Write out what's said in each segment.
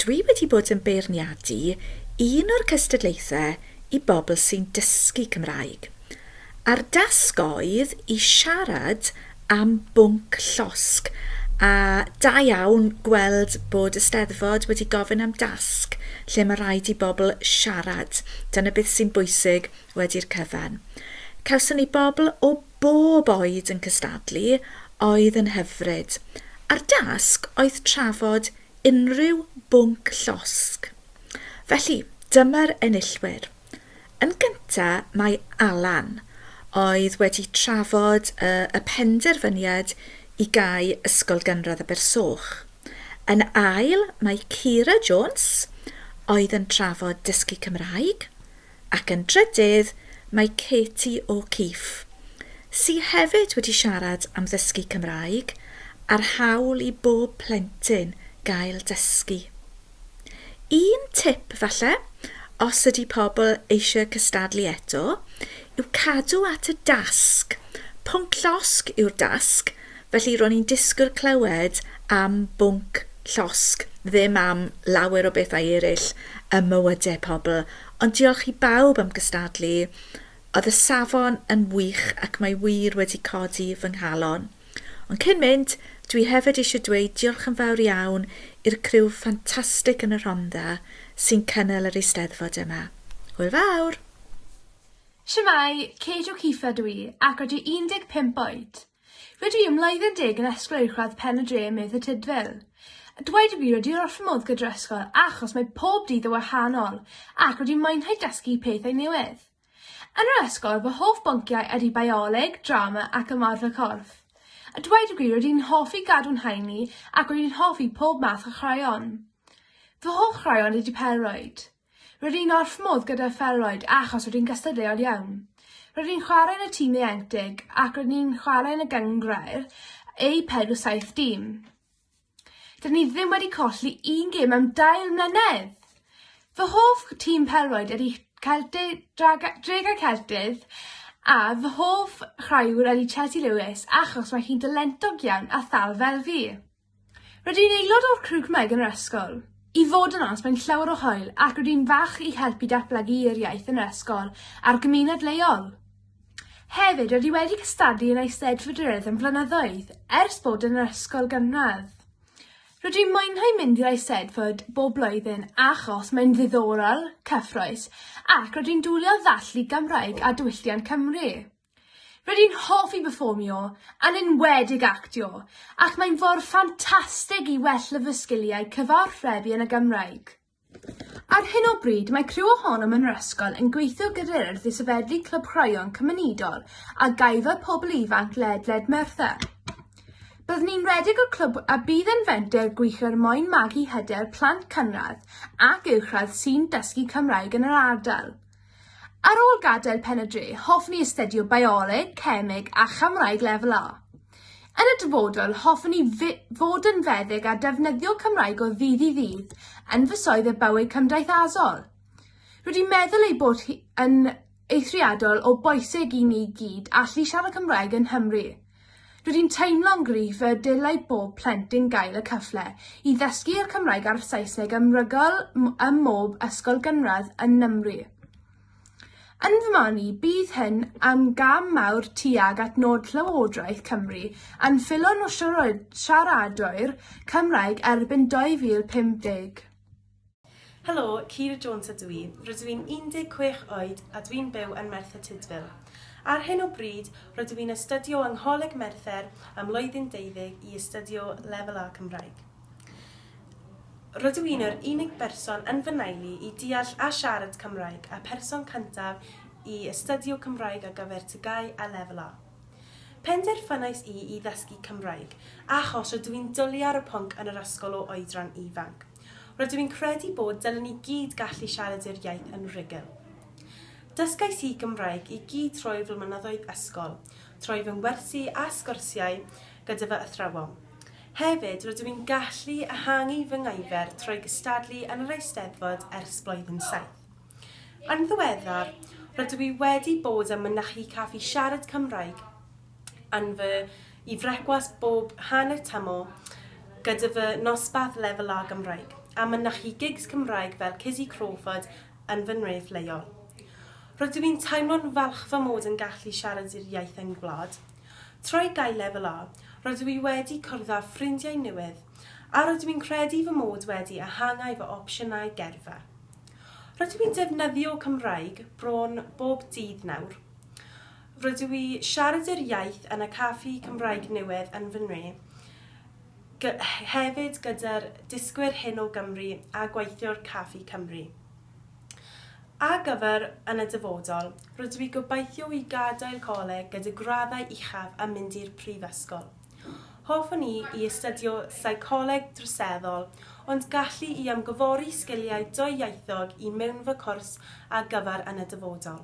dwi wedi bod yn beirniadu un o'r cystadlaethau i bobl sy'n dysgu Cymraeg. A'r dasg oedd i siarad am bwnc llosg, a da iawn gweld bod y Steddfod wedi gofyn am dasg lle mae rhaid i bobl siarad. Dyna beth sy'n bwysig Wedi'r cyfan. Cawson ni bobl o bob oed yn cystadlu, oedd yn hyfryd. A'r dasg oedd trafod unrhyw bwnc llosg. Felly, dyma'r enillwyr. Yn gynta mae Alan, oedd wedi trafod y y penderfyniad i gau Ysgol Gynradd Abersoch. Yn ail mae Keira Jones, oedd yn trafod dysgu Cymraeg. Ac yn drydydd, mae Katie O'Keefe, sy hefyd wedi siarad am ddysgu Cymraeg a'r hawl i bob plentyn gael dysgu. Un tip, falle, os ydy pobl eisiau cystadlu eto, yw cadw at y dasg, pwnc llosg yw'r dasg, felly ro'n i'n disgwyl clywed am bwnc llosg, ddim am lawer o bethau eraill ym mywydau pobl, ond diolch i bawb am gystadlu, oedd y safon yn wych ac mae wir wedi codi fy nghalon. Ond cyn mynd, dwi hefyd eisiau dweud diolch yn fawr iawn i'r criw ffantastig yn y Rhondda sy'n cynnal yr Eisteddfod yma. Hwyl fawr! Shwmae, Kate O'Keefe ydw i ac rydw i 15 oed. Rydw i am mlwyddyn deg yn ysgol uwchradd Pen y Dre ym Myth y Tudful. A dweud y gwir wedi i wrth fy modd gyda'r ysgol achos mae pob dydd yn wahanol ac wedi mwynhau dysgu pethau newydd. Yn yr ysgol fy hoff bynciau ydy Bioleg, Drama ac Ymarfer Corff. A dweud y gwir rydw i'n hoffi gadw'n haeni ac rydw i'n hoffi pob math o chwaraeon. Fy hoff chwaraeon ydy pêl-rwyd. Roedd hi'n orff modd gyda'r Felroed achos roedd hi'n gystadleuol iawn. Roedd hi'n chwarae yn y tîm ieuenctid ac roedd ni'n chwarae yn y gynghrair eu pedw saith dîm. Dydyn ni ddim wedi colli un gêm am dair mlynedd! Fy hoff tîm pelroed ydy Celtic, Draga, Dregau Celtydd a fy hoff chwaraewr ydy Chelsea Lewis achos mae hi'n dalentog iawn a thal fel fi. Rydw i'n aelod o'r Crew Cymraeg yn yr ysgol. I fod yn onest mae'n llawer o hwyl ac rydw i'n falch i helpu datblygu yr iaith yn yr ysgol a'r gymuned leol. Hefyd, rydw i wedi cystadlu yn Eisteddfodrwydd am flynyddoedd ers bod yn yr ysgol gynradd. Rydw i'n mwynhau mynd i'r Eisteddfod bob blwyddyn achos mae'n ddiddorol, cyffrous ac rydw i'n dwli o ddathlu Gymraeg a diwylliant Cymru. Rydw i'n hoffi perfformio, yn enwedig actio, ac mae'n ffordd ffantastig i wella fy sgiliau cyfathrebu yn y Gymraeg. Ar hyn o bryd mae criw ohonom yn yr ysgol yn gweithio gyda'r Urdd i sefydlu Clwb Chwaraeon Cymunedol a Gaefa Pobl Ifanc ledled Merthyr. Byddwn ni'n rhedeg y clwb a bydd yn fenter gwych er mwyn magu hyder plant cynradd ac uwchradd sy'n dysgu Cymraeg yn yr ardal. Ar ôl gadael Pen-y-dre, hoffwn i astudio Bioleg, Cemeg a Chymraeg Lefel A. Yn y dyfodol, hoffwn i fod yn feddyg a defnyddio Cymraeg o ddydd i ddydd yn fy swydd a bywyd cymdeithasol. Rwy 'di meddwl ei bod yn eithriadol o bwysig i ni gyd allu siarad Cymraeg yng Nghymru. Rydw i'n teimlo'n gryf y dylai bob plentyn gael y cyfle i ddysgu y Cymraeg a'r Saesneg ym mrygol ym mhob ysgol gynradd yn Nghymru. Yn fy marn i, bydd hyn yn gam mawr tuag at nod Llywodraeth Cymru yn ffilon o siaradwyr Cymraeg erbyn 2050. Helo, Keira Jones ydw i, rydw i'n 16 oed a dwi'n byw yn Merthyr Tudful. Ar hyn o bryd, rydw i'n astudio yng Ngholeg Merthyr ym mlwyddyn deuddeg i astudio Lefel A Cymraeg. Rydw i'n yr unig berson yn fy nailu i deall a siarad Cymraeg a person cyntaf i astudio Cymraeg ar gyfer TGAU a Lefel A. Penderfynais i i ddysgu Cymraeg achos rydw i'n dwlu ar y pwnc yn yr ysgol o oedran ifanc. Rydw i'n credu bod dylen ni gyd gallu siarad i'r iaith yn rhugl. Dysgais i Gymraeg i gyd trwy fy mlynyddoedd ysgol, trwy fy ngwersi a sgwrsiau gyda fy athrawon. Hefyd, rydw i'n gallu ehangu fy ngaifer trwy gystadlu yn yr Eisteddfod ers Blwyddyn Saith. Yn ddiweddar, rydw i wedi bod yn mynychu Caffi Siarad Cymraeg, yn fy i frecwast bob hanner tamor gyda fy nosbath lefel A Gymraeg, a mynychu gigs Cymraeg fel Cizzy Crawford yn fy nhref leol. Rydw i'n teimlo'n falch fy mod yn gallu siarad i'r iaith yng ngwlad. Trwy gael lefel A, rydw i wedi cwrdd â ffrindiau newydd, a rydw i'n credu fy mod wedi ehangau fy opsiynau gyrfa. Rydw i'n defnyddio Cymraeg bron bob dydd nawr. Rydw i siarad yr iaith yn y caffi Cymraeg newydd yn fy nwy, hefyd gyda'r dysgwyr hyn o Gymru a gweithiwr Caffi Cymru. Ar gyfer yn y dyfodol, rydw i gobeithio i gadael coleg gyda graddau uchaf a mynd i'r prifysgol. Hoffwn i i astudio seicoleg droseddol, ond gallu i ymgyfori sgiliau dwyieithog i mewn fy cwrs ar gyfer yn y dyfodol.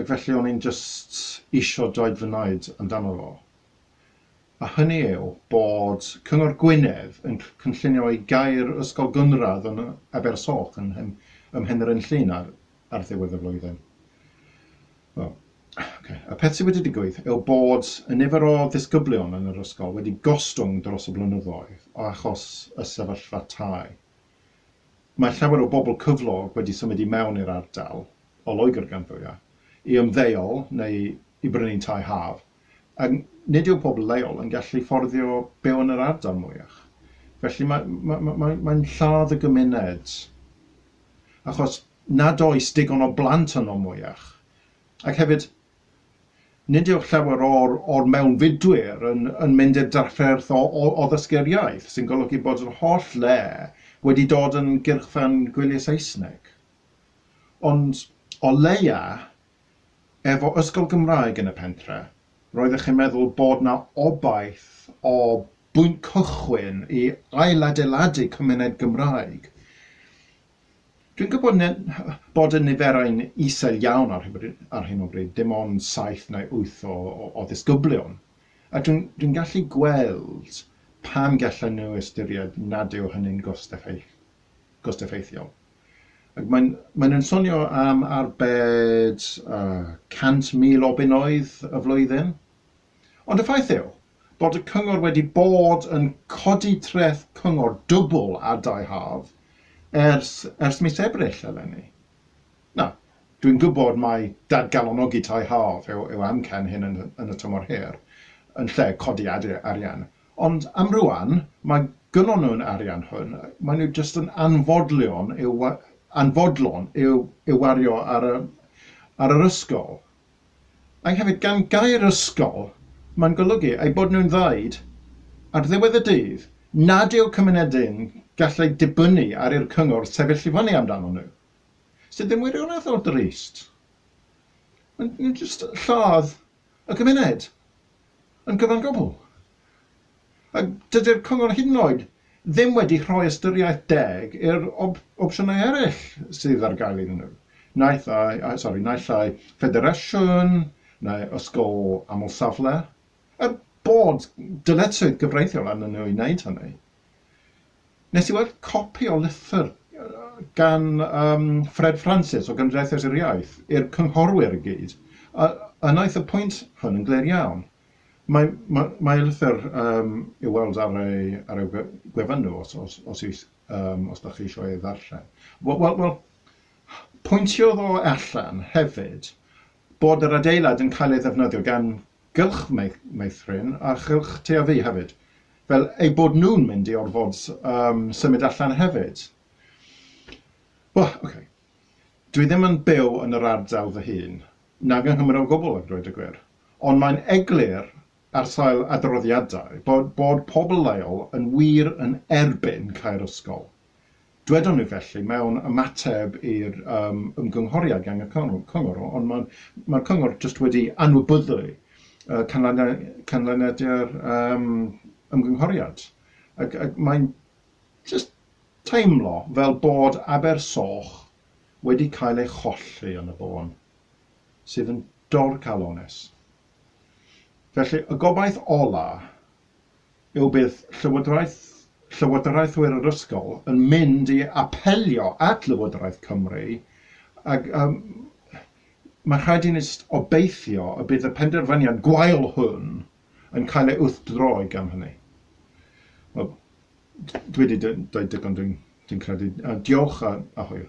Ac felly o'n i'n jyst isio dweud fy naid amdano fo, a hynny yw bod Cyngor Gwynedd yn cynllunio i gau'r ysgol gynradd yn Abersoch yn ym Mhenrhyn Llŷn ar ar ddiwedd y flwyddyn. Wel, ocê, y peth sydd wedi digwydd yw bod y nifer o ddisgyblion yn yr ysgol wedi gostwng dros y blynyddoedd o achos y sefyllfa tai. Mae llawer o bobl cyflog wedi symud i mewn i'r ardal, o Loegr gan fwyaf, i ymddeol neu i brynu tai haf, a nid yw pobl leol yn gallu fforddio byw yn yr ardal mwyach. Felly mae, mae, mae, mae, mae'n lladd y gymuned, achos nad oes digon o blant yno mwyach. Ac hefyd, Nid yw llawer o'r o'r mewnfudwyr yn yn mynd i'r drafferth o o o ddysgu'r iaith, sy'n golygu bod yr holl le wedi dod yn gyrchfan gwyliau Saesneg. Ond, o leia', efo ysgol Gymraeg yn y pentre', roeddech yn meddwl bod 'na obaith o bwynt cychwyn i ailadeiladu cymuned Gymraeg. Dwi'n gwybod bod y niferau'n isel iawn ar hyn o bryd, dim ond saith neu wyth o ddisgyblion, a dwi'n gallu gweld pam gallan nhw ystyried nad yw hynny'n gost-effeithiol. Maen nhw'n swnio am arbed 100,000 o bunnoedd y flwyddyn. Ond y ffaith yw bod y cyngor wedi bod yn codi treth cyngor dwbl ar dai haf ers ers mis Ebrill eleni. Nawr, dwi'n gwybod mai dadgalonogi tai haf yw yw amcan hyn yn yn y tymor hir, yn lle codi adi- arian, ond am rŵan, mae gynnon nhw'r arian hwn, maen nhw jyst yn anfodlion i'w wa- anfodlon i'w i'w wario ar y ar yr ysgol. Ac hefyd, gan gair ysgol, mae'n golygu eu bod nhw'n ddweud, ar ddiwedd y dydd, nad yw cymunedau'n gallu dibynnu ar i'r cyngor sefyll i fyny amdanyn nhw, sydd yn wirioneddol drist. Maen nhw jyst yn lladd y cymuned yn gyfan gwbl. A dydy'r Cyngor hyd yn oed ddim wedi rhoi ystyriaeth deg i'r opsiynau eraill sydd ar gael iddyn nhw. Naill ai, sori, naill ai ffederasiwn neu ysgol aml-safle, er bod dyletswydd gyfreithiol arnyn nhw i wneud hynny. Nes i weld copi o lythyr gan um, Fred Francis o Gymdeithas yr Iaith i'r cynghorwyr i gyd, a, a wnaeth y pwynt hwn yn glir iawn. Mae mae e'n lythyr yym i'w weld ar ei ar ei gwe- gwefan nhw os os os is- yym os 'dach chi isio ei ddarllen. Wel wel wel pwyntiodd o allan hefyd bod yr adeilad yn cael ei ddefnyddio gan gylch mei- meithrin a chylch Tŷ-a-Fi hefyd, fel eu bod nhw'n mynd i orfod yym symud allan hefyd. Wel, ocê, dwi ddim yn byw yn yr ardal fy hun, nag yng Nghymru o gwbl a dweud y gwir. Ond mae'n eglur ar sail adroddiadau bod bod pobl leol yn wir yn erbyn cau'r ysgol. Dwedon nhw felly mewn ymateb i'r yym ymgynghoriad gan y cyngor, ond mae'r mae'r cyngor jyst wedi anwybyddu yy canlyniad canlyniadau'r yym ymgynghoriad ac ac mae'n jyst teimlo fel bod Aber Soch wedi cael ei cholli yn y bôn. sydd yn dorcalonnus. Felly, y gobaith ola' yw bydd llywodraeth, llywodraethwyr yr ysgol yn mynd i apelio at Lywodraeth Cymru ac um, mae'n rhaid i ni obeithio y bydd y penderfyniad gwael hwn yn cael ei wrthdroi gan hynny. Wel, dwi wedi dweud digon dwi'n dwi credu. Uh, diolch a, a hwyl.